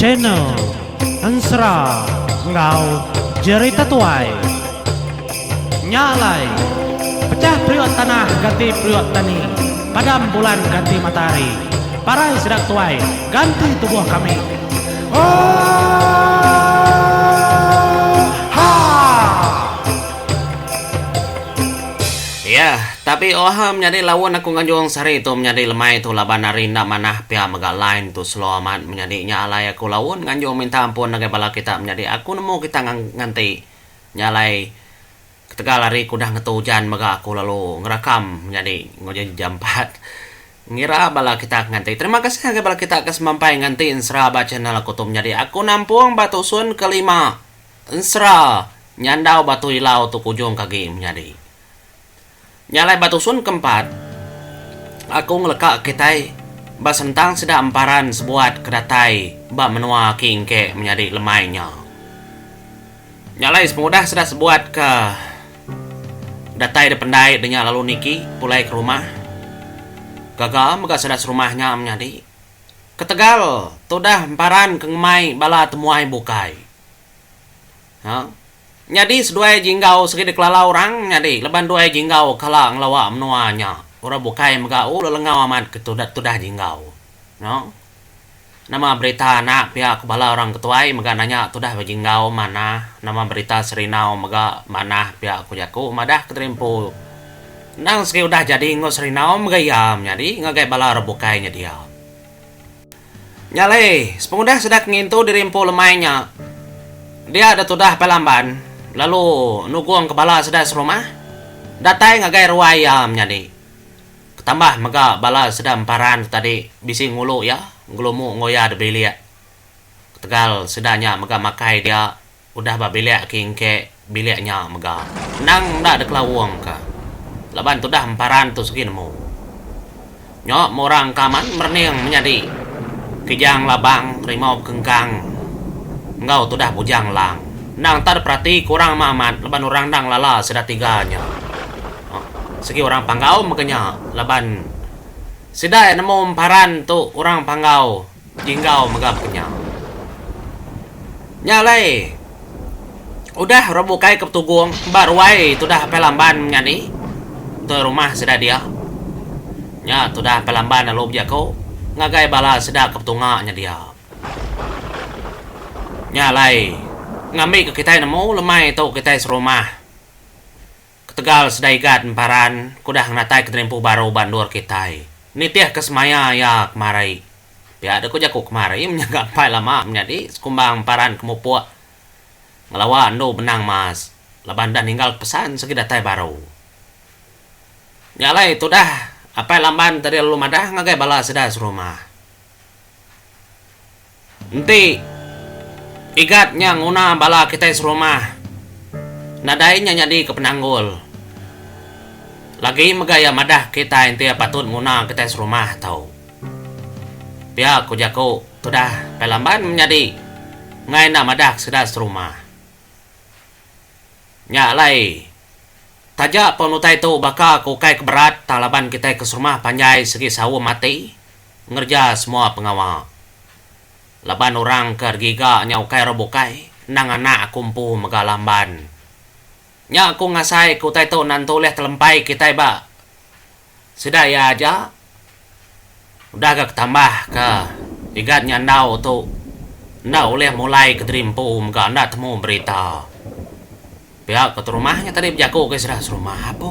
Channel Ensera enggau Jerita Tuai. Nya alai, pechah periuk tanah ganti periuk tani, padam bulan ganti matahari. Parai sida ke tuai, ganti tubuh kami. Oohhhha! Yah. Tapi oha menyadi laun aku nganjung sehari tu menyadi lemai tu laban ari enda manah pia mega line tu slow amat menyadi nya alai aku laun nganjung minta ampun ngagai bala kita menyadi aku nemu kita nganti nya alai ketegal ari kudah ngetu ujan mega aku lalu ngerakam menyadi enggau jaji jampat ngira bala kita ke nganti terima kasih ngagai bala kita ke semampai nganti ensera ba channel aku tu menyadi aku nampung ba tusun ke lima ensera nyandau ba tu ilau tu ke ujung ke agi menyadi. Nya alai ba tusun ke empat, aku ngeleka kitai ba sentang sida emparan sebuat ke datai ba menua aki engke menyadi lemai nya. Nya alai sepengudah sida sebuat ke datai dependai denya lalu niki pulai ke rumah, gaga mega sida serumah nya menyadi. Ketegal tudah emparan ke ngemai bala temuai bukai. Haa. Nyadi seduai Jinggau sigi dikelala orang nyadi leban duai Jinggau kala ngelawa menua nya. Orang bukai mega ulu lengau amat ke tudah Jinggau. No. Nama berita enda pia ke bala orang ketuai mega nanya tudah ba Jinggau manah nama berita Serindau mega manah pia ku jaku madah ke terimpu endang sigi udah jadi enggau Serindau mega iya menyadi ngagai bala orang bukai nyedia. Nya alai, sepengudah Sedak ngintu diri empu lemai nya, dia da tudah pai lamban lalu nugungka bala sida serumah datai ngagai ruai iya menyadi. Ketambah mega bala sida emparan tu tadi bisi ngulu iya ngelumu enggau iya da bilik ketegal sida nya mega makai dia Udah ba bilik ke engke bilik nya mega. Endang enda dikelaung ka laban tudah emparan tu segi nemu. Nyo meh orang ka amat merening menyadi Kijang Labang, Rimau Bekengkang enggau tudah Bujang Elang. Endang enta diperati ke orang meh amat laban orang enda ngelala sida tiga nya. Segi orang Panggau mega nya laban sida iya nemu emparan tu orang Panggau. Tinggau mega penyau. Nya alai udah orang bukai ke Betugong ba ruai tudah Apai Lamban menya ni enggau rumah sida dia. Nya tudah Apai Lamban lalu bejaku ngagai bala sida ke betunga nya dia. Nya alai ngambika kitai nemu lemai tu kitai serumah. Ketegal Sedai Gad Emparan ke udah ngenatai kenerimpuh baru ba endur kitai, nitihka semaya iya kemari. Pia deka jaku kemari menya ga empai lama menyadi sekumbang emparan ke mupuk ngelawa endu benang emas laban udah ninggalka pesan sigi datai baru. Nya alai tudah Apai Lamban tadi lalu madah ngagai bala sida serumah. Enti Igat nya nguna bala kitai serumah, nadai nya nyadika penanggul. Lagi mega iya madah kitai enti iya patut nguna kitai serumah tu. Pia ku jaku tudah Pai Lamban menyadi enggai enda madah ke sida seterumah. Nya alai, taja pun utai tu baka ke ukai ke berat tang laban kitai ke serumah panjai sigi saum ati, ngereja semua pengawa. Laban orang ke regiga nya ukai orang bukai, endang anak aku empu mega lamban. Nya aku ngasai ke utai tu nan ento ulih telempai kitai ba sida iya aja. Udah ga ketambah ke igat nya andau tu enda ulih mulai kediri empu mega enda temu berita. Pia ke terumah nya tadi bejaku ke sida serumah apo.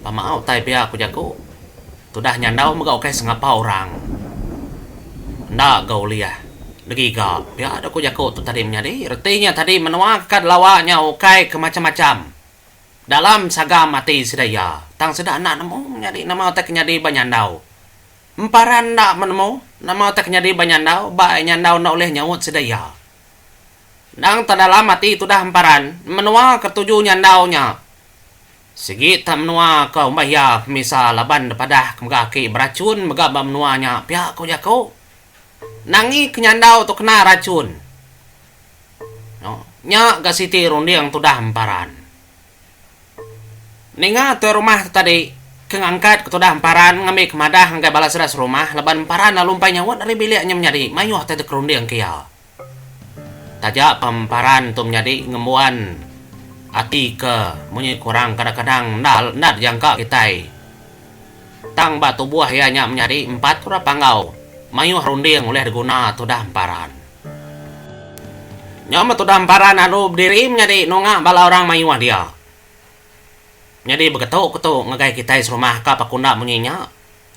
Pemau utai pia ku jaku tudah nyandau mega ukai sengapa orang. Enda ga ulih digiga pia da ku jaku tu tadi menyadi reti nya tadi menua kad lawa nya ukai ke macham-macham dalam sagam ati sida iya tang sida enda nemu menyadi nama utai ke nyadi ba nyandau. Emparan enda menemu nama utai ke nyadi ba nyandau ba nyandau enda ulih nyaut sida iya. Endang tau dalam ati tudah emparan menua ke tuju nyandau nya. Sigi tak menua ke umbah iya pemisa laban depadah ke mega aki berachun mega ba menua nya pia ko jako. Nangi ke nyandau tu kena rachun. No, nya ga siti runding tudah emparan. Ninga tuai rumah tu tadi ke ngangkat ke tudah emparan ngambi ke madah ngagai bala sida serumah laban emparan lalu empai nyaut ari bilik nya menyadi mayuh tai tekerunding ke iya. Taja pemparan tu menyadi ngembuan ati ke munyi kurang kadang-kadang enda enda dijangka kitai. Tang ba tubuh iya nya menyadi empat kura panggau mayuh runding ulih diguna tudah emparan. Nyau meh tudah emparan alu bediri menyadi nunga bala orang mayuh dia. Nyadi begetu ketu ngagai kitai serumah ka paku enda munyi nya.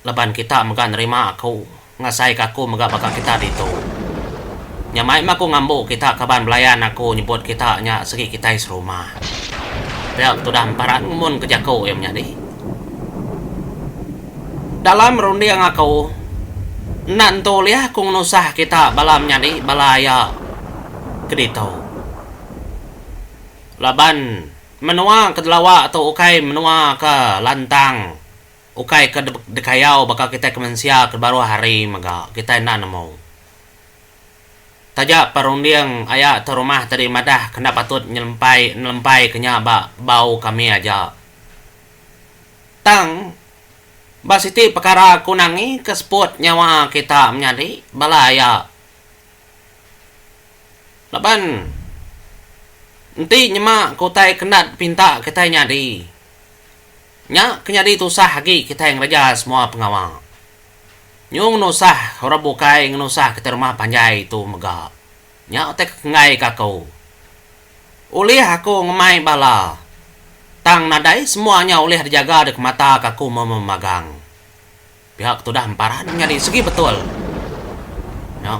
Laban kita mega nerima aku ngasaika aku mega baka kita ditu. Nya mai meh aku ngambu kita kaban belayan aku nyebut kita nya segi kitai serumah. Pia betudah emparan ngumunka jaku iya menyadi. Dalam runding aku, enda nentu ulih aku ngenusah kita bala menyadi bala iya ke ditu. Laban menua ke delawa tu ukai menua ke lantang. Ukai ke dekayau baka kitai ke mensia ke baruh hari mega kitai enda nemu. Taja perunding aya tu rumah tadi madah ke enda patut nyelempai nelempaika nya ba bau kami aja. Tang ba siti pekara ku Nangi ke seput nyawa kita menyadi bala aya laban enti nyema ke utai ke enda dipinta kitai nyadi. Nya ke nyadi tusah agi kitai ngereja semua pengawa. Nyung nusah orang bukai ngenusah kitai rumah panjai tu mega. Nya utai ke enggai ka aku. Ulih aku ngemai bala. Tang nadai semua nya ulih dijaga deka mata ka aku memagang. Pihak tudah Empara enda nyadi segi betul. Nya.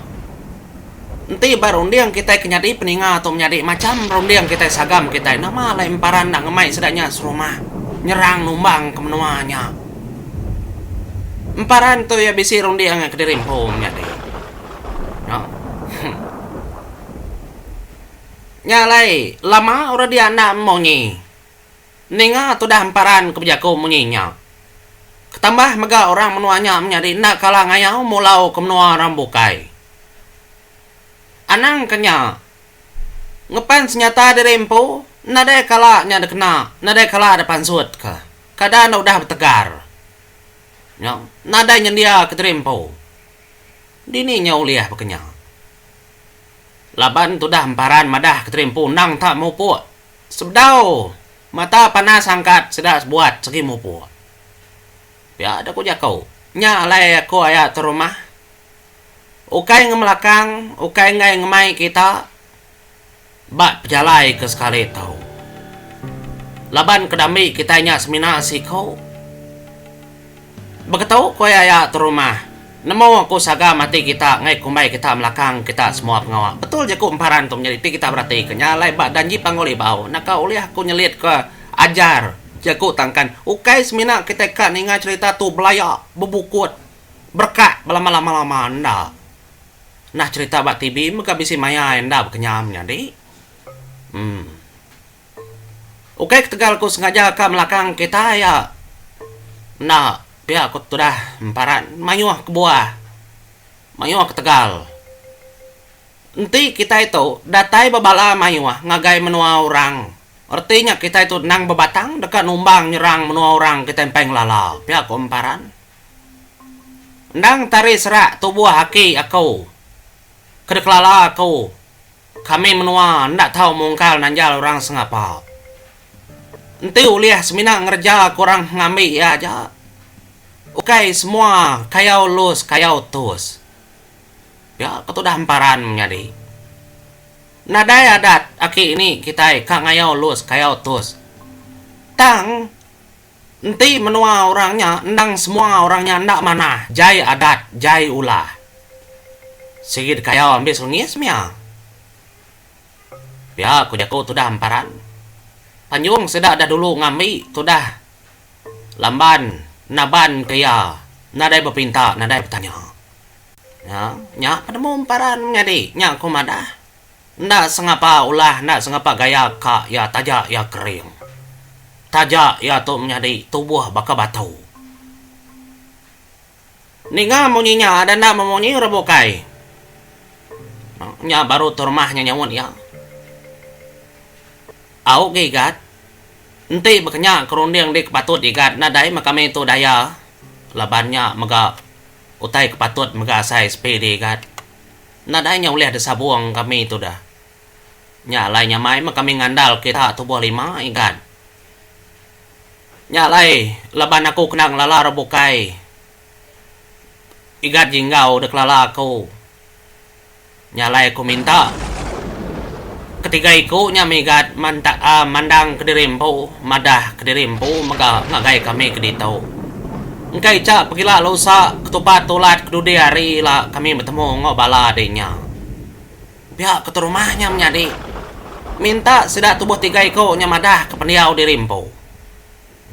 Enti ba runding kitai ke nyadi peninga tu menyadi macham runding kitai sagam kitai, nama alai Empara enda ngemai sida nya serumah nyerang numbang ke menua nya. Empara tu iya bisi runding ngan kediri empu menyadi. Nya. Huh. Nya alai lama orang dia enda munyi. Ninga tudah emparan ke bejaku munyi nya. Ketambah mega orang menua nya menyadi enda kala ngayau mulau ke menua orang bukai. Anang ke nya, ngepan senyata diri empu nadai kala nya dikena, nadai kala dipansut ke keadaan enda udah betegar nya nadai nyendia ke diri empu. Dini nya ulih baka nya? Laban tudah emparan madah ke diri empu endang tak mupuk. Sebedau mata panas angkat sida sebuat segi mupuk. Pia dek ku jaku, nya alai aku aya ke rumah. Ukai ngemelakang, ukai enggai ngemai kita ba pejalai ke sekali tu. Laban ke dambi kitai nya semina siku. Beketu ku iya iya terumah. Nemu ku sagam ati kita ngai kumbai kita melakang kita semua pengawa. Betul je ku emparan tu menyadi ti kita berati ke nya alai ba janji Panggul Ibau naka ulih aku nyelit ke ajar je ku tangkan ukai semina kitai ka ninga cherita tu belaya bebukut berekak belama-lama-lama enda nah cherita ba TV mega bisi maya enda bekenyam nyadi. Em. Ukai ketegal aku sengaja ka melakang kitai iya. Enda pia aku tudah emparan mayuh kebuah. Mayuh ketegal. Enti kitai tu datai ba bala mayuh ngagai menua orang, reti nya kitai tu endang bebatang deka numbang nyerang menua orang kitai empai ngelala, pia aku emparan. Endang tari serak tubuh aki aku ke dikelala aku. Kami menua enda tau mungkal nanjal orang sengapa. Enti ulih semina ngereja ke orang ngambi iya aja. Ukai semua kayau lus kayau tus. Pia ke tudah emparan menyadi. Nadai adat aki ini kitai ka ngayau lus kayau tus. Tang. Enti menua orang nya endang semua orang nya enda manah jai adat jai ulah. Sigi dikayau ambi selengis mia. Pia ku jaku tudah emparan. Panjung sida dah dulu ngambi tudah Lamban naban ke iya nadai bepinta nadai betanya. Nya nya penemu emparan menyadi nya ku madah. Enda sengapa ulah enda sengapa gaya ka iya taja iya kering. Taja iya tu menyadi tubuh baka batu. Ninga munyi nya ada enda memunyi ra bukai. Nya baru tu rumah nya nyaut iya. Au ga igat. Enti baka nya ke runding dih ke patut igat nadai meh kami tu daya laban nya mega utai ke patut mega asai sepi diigat. Nadai nya ulih disabung kami tudah. Nya alai nyamai meh kami ngandal kita tubuh lima igan. Nya alai laban aku kena ngelalar bukai igan jinggau dikelala aku. Nya alai aku minta. Ketiga iku nya migat mantaa mandang kediri empu madah kediri empu mega ngagai kami ke ditu. Engka icha pegila lusa ketupat tulat kedudi hari ila kami betemu enggau bala adi nya. Pia ke tu rumah nya menyadi minta sida tubuh tiga iku nya madah ke pendiau diri empu.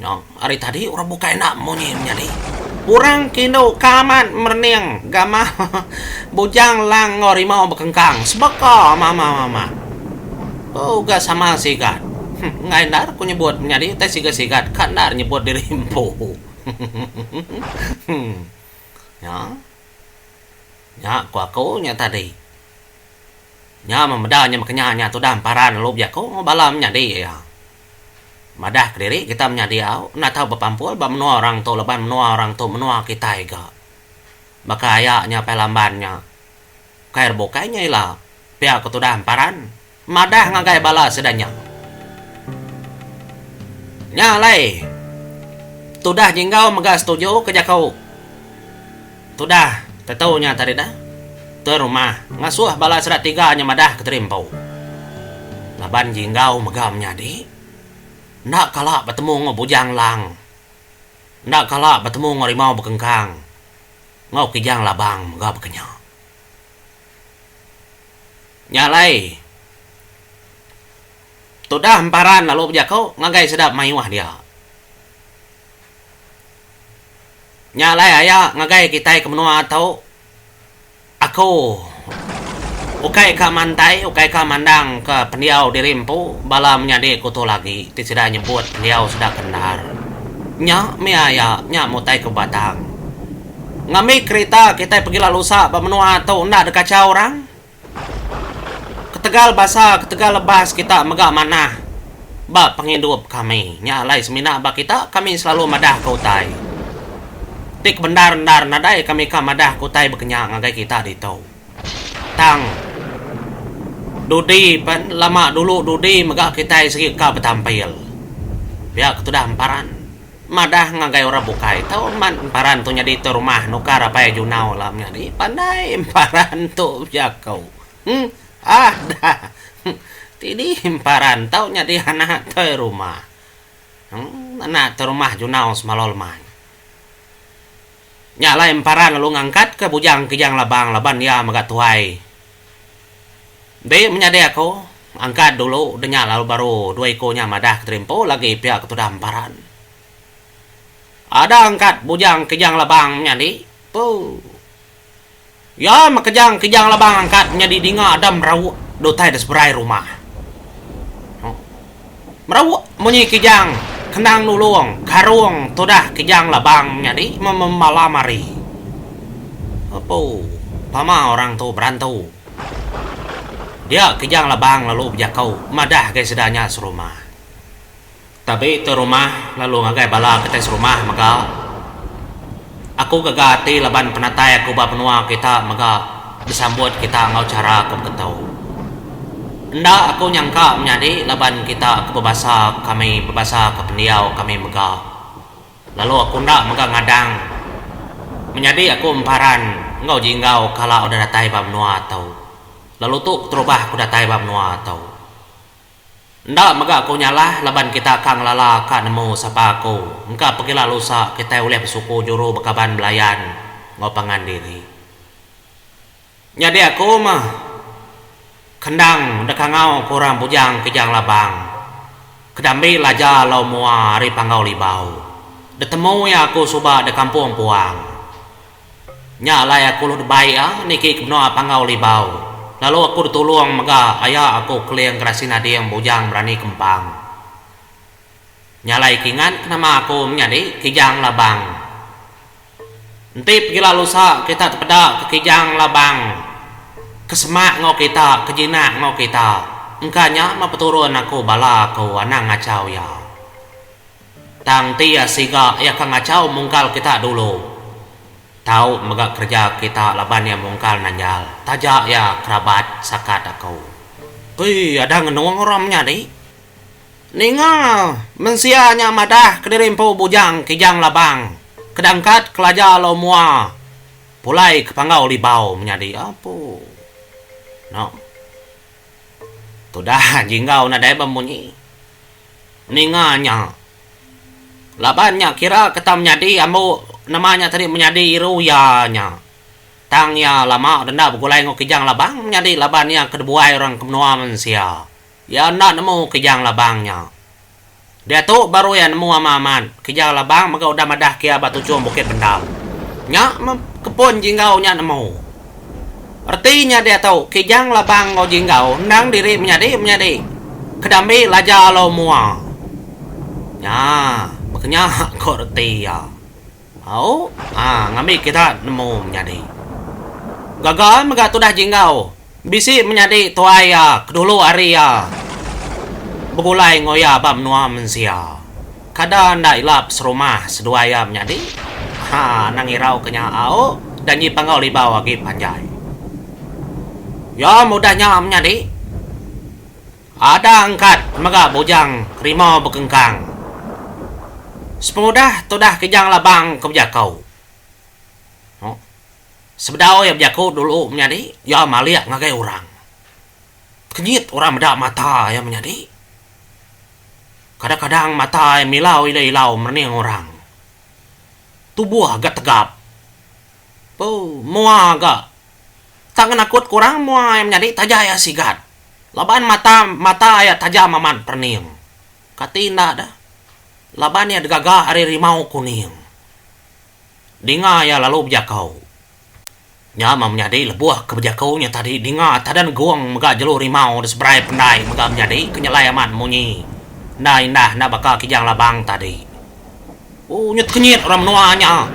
Nyau ari tadi orang bukai enda munyi menyadi. Orang kindu ka amat merening gamar bujang lang enggau rimau bekengkang sebaka mama mama. Beuh uga sama sigat. Huh enggai enda aku nyebut menyadi utai siga sigat ka enda nyebut diri empu. Huh. Nya. Nya ku aku nya tadi. Nya memeda nya mekenya nya tudah emparan lalu bisi aku enggau bala menyadi iya. Madah kediri kita menya diau enda tau bepampul ba menua orang tu laban menua orang tu menua kitai ga. Baka aya nya Pai Lamban nya kai ra bukai nya ila pia ke tudah emparan madah ngagai bala sida nya. Nya alai tudah Jinggau mega setuju ke jaku. Tudah, tetu nya tadi dah. Tuan rumah ngasuh bala sida tiga nya madah ke teri empu. Laban Jinggau mega menyadi. Enda kala betemu enggau Bujang Lang. Enda kala betemu enggau Rimau Bekengkang. Enggau Kijang Labang mega baka nya. Nya alai, Tudah emparan lalu bejaku ngagai sida mayuh dia. Nya alai aya ngagai kitai ke menua tu, aku ukai ka mantai, ukai ka mandang ke pendiau diri empu bala menyadi ku tu lagi ti sida nyebut pendiau sida ke endar. Nya mih aya, nya mih utai ke batang. Ngambi kerita kitai pegi lalu usa ba menua tu enda deka kachau orang. Ketegal basa, ketegal lebas kita mega manah ba pengidup kami. Nya alai semina ba kita, kami selalu madahka utai. Ti kebendar-endar nadai kami ka madahka utai bekenya ngagai kita ditu. Tang dudi pen, lama dulu dudi mega kitai sigi ka betampil. Pia ke tudah emparan. Madah ngagai orang bukai tau amat emparan tu nyadi tu rumah nukar apai Junau lam nya dih pandai emparan tu bejako huh ah dah huh ti dih emparan tau nyadi anak toi rumah huh anak toi rumah Junau semalau lemai nya alai emparan lalu ngangkat ka bujang Kijang Labang laban iya mega tuai. Enti menyadi aku, angkat dulu denya lalu baru dua iku nya madah ke tadi empu lagi pia ke tudah emparan. Ada angkat bujang Kijang Labang menyadi, puh. Iya meh kejang Kijang Labang angkat menyadi dinga ada merauk di utai diseberai rumah. Merauk munyi kijang kenang nulung karung tudah kijang labang nyadi memalam hari. Apo pama orang tu berantu. Dia kijang labang lalu bejako madah agi sida nya serumah. Tabi tu rumah lalu ngagai bala kitai serumah mega. Aku gaga ati laban penatai aku ba menua kita mega besambut kita enggau chara ke beketu. Enda aku nyangka menyadi laban kita ke bebasa kami bebasa ke pendiau kami mega lalu aku enda mega ngadang menyadi aku emparan enggau jinggau kala udah datai ba menua tu lalu tu keterubah aku datai ba menua tu. Enda mega aku nyalah laban kita ka ngelala ka nemu sapa aku engka pegila lusa kitai ulih besuku juru bekaban belayan enggau pangan diri. Nyadi aku meh kendang dekangau ke orang bujang Kijang Labang kedambi laja lau mua ari Panggau Libau. Detemu iya aku suba dekampung Puang. Nya alai aku lalu dibai iya niki ke menua Panggau Libau lalu aku ditulung mega aya aku Keling Gerasi Nading Bujang Berani Kempang. Nya alai ke ingat ke nama aku menyadi Kijang Labang. Enti pegila lusa kita tepeda ke Kijang Labang ke semak enggau kita ke jinak enggau kita engka nya meh peturun aku bala aku anang ngachau iya. Tang ti iya siga iya ka ngachau mungkal kita dulu. Tau mega kereja kita laban iya mungkal nanjal. Taja iya kerabat sakat aku. Oi ada ngenung orang menyadi. Ninga mensia nya madah kediri empu bujang kijang labang ke dangkat kelaja lo mua pulai ke panggau libau menyadi apu. Noh. Tudah jinggau nadai bemunyi. ninga nya. Laban nya kira ketam nyadi ambu nema nya tadi menyadi iru iya nya. Tang iya lama enda begulai enggau Kijang Labang menyadi laban iya ke dibuai orang ke menua mensia. Iya enda nemu Kijang Labang nya. Diatu baru iya nemu ama amat, Kijang Labang mega udah madah ke iya ba tuchum Bukit Bendar. Nya meh kepun Jinggau nya nemu. Reti nya diatu, Kijang Labang enggau Jinggau endang diri menyadi-menyadi ke diambi Laja Alu Mua. Nya baka nya ko reti iya. Au, a ngambi kita nemu menyadi. Gaga mega tudah Jinggau bisi menyadi tuai iya ke dulu hari iya begulai enggau iya ba menua mensia. Kada enda ilap serumah seduai iya menyadi. Ha anang irau ke nya au da nyi panggau libau agi panjai. Yom udah nya menyadi. Ada angkat mega bujang rimau bekengkang. Sepengudah tudah Kijang Labang ke bejako. Huh. Sebedau iya bejako dulu menyadi, iya malik ngagai orang. Tekenyit orang meda mata iya menyadi. Kadang-kadang mata ai milau ila ilau merening orang. Tubuh ga tegap. Boo mua ga tak ngenakut ke orang mua ai menyadi taja ia sigat laban mata mata ia tajam amat perening. Kati enda da laban ia digaga ari rimau kuning. Dinga ia lalu bejakau. Nya meh menyadi lebuh ke bejaku nya tadi dinga Tadan Gong mega jelu rimau di seberai pendai mega menyadi ke nyelai amat munyi enda indah enda baka Kijang Labang tadi. Ooh nya tekenyit orang menua nya.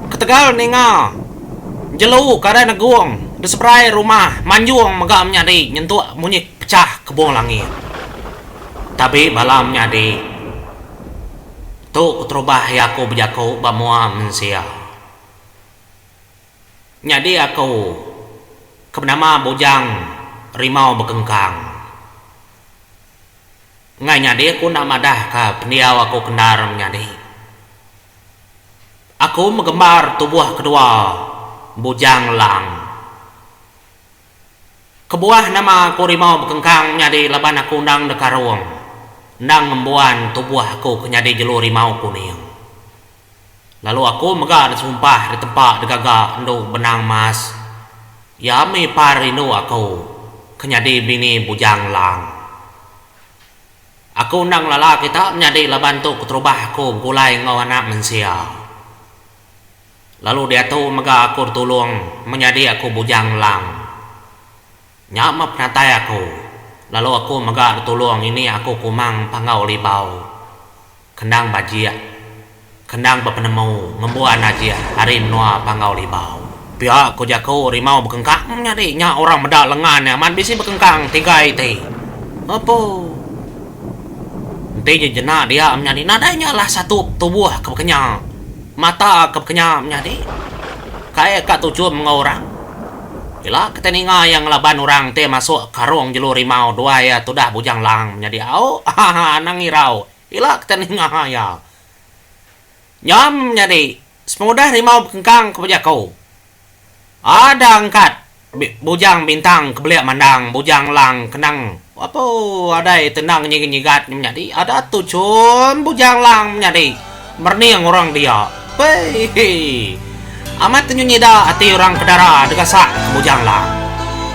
Ketegal ninga jelu Kadan Gong di seberai rumah Manjong mega menyadi nyentuk munyi pechah kebung langit. Tabi bala menyadi tu keterubah iya ku bejaku ba mua mensia. Nyadi aku ke benama Bujang Rimau Bekengkang. Ngai nyadi aku enda madah ka pendiau aku ke endar menyadi. Aku megembar tubuh kedua Bujang Lang. Kebuah nama aku rimau bekengkang nyadi laban aku endang deka rung, endang ngembuan tubuh aku ke nyadi jelu rimau kuning. Lalu aku mega disumpah di tempa digaga endu benang emas, iya mih par rindu aku ke nyadi bini bujang lang. Aku endang ngelala kita menyadi laban tu keterubah aku begulai enggau anak mensia. Lalu diatu mega aku ditulung menyadi aku bujang ngelang. Nya meh penatai aku, lalu aku mega ditulung ngini aku kumang panggau libau, kendang bajik, kendang bepenemu ngembuan najih ari menua panggau libau. Pia ku jaku rimau bekengkang nyadi nya orang meda lengan nya amat bisi bekengkang tiga iti. Apu. Enti jejena dia menyadi nadai nya lah satu tubuh ke bekenya. Mata ke bekenya menyadi, kai ka tujung enggau orang. Ila ke tai ninga iya ngelaban orang ti masuk karung jelu rimau duai iya tudah bujang lang menyadi au, ahaa anang irau ila ke tai ninga iya. Nyam menyadi, sepengudah rimau bekengkang kebuah jaku. Ada angkat bujang bintang kebelik mandang bujang lang kenang apuh adai tenang nyigat nyigat nya menyadi ada tu chum bujang lang menyadi merening orang dia pei amat tenyunyida ati orang kedara degasak bujang lang.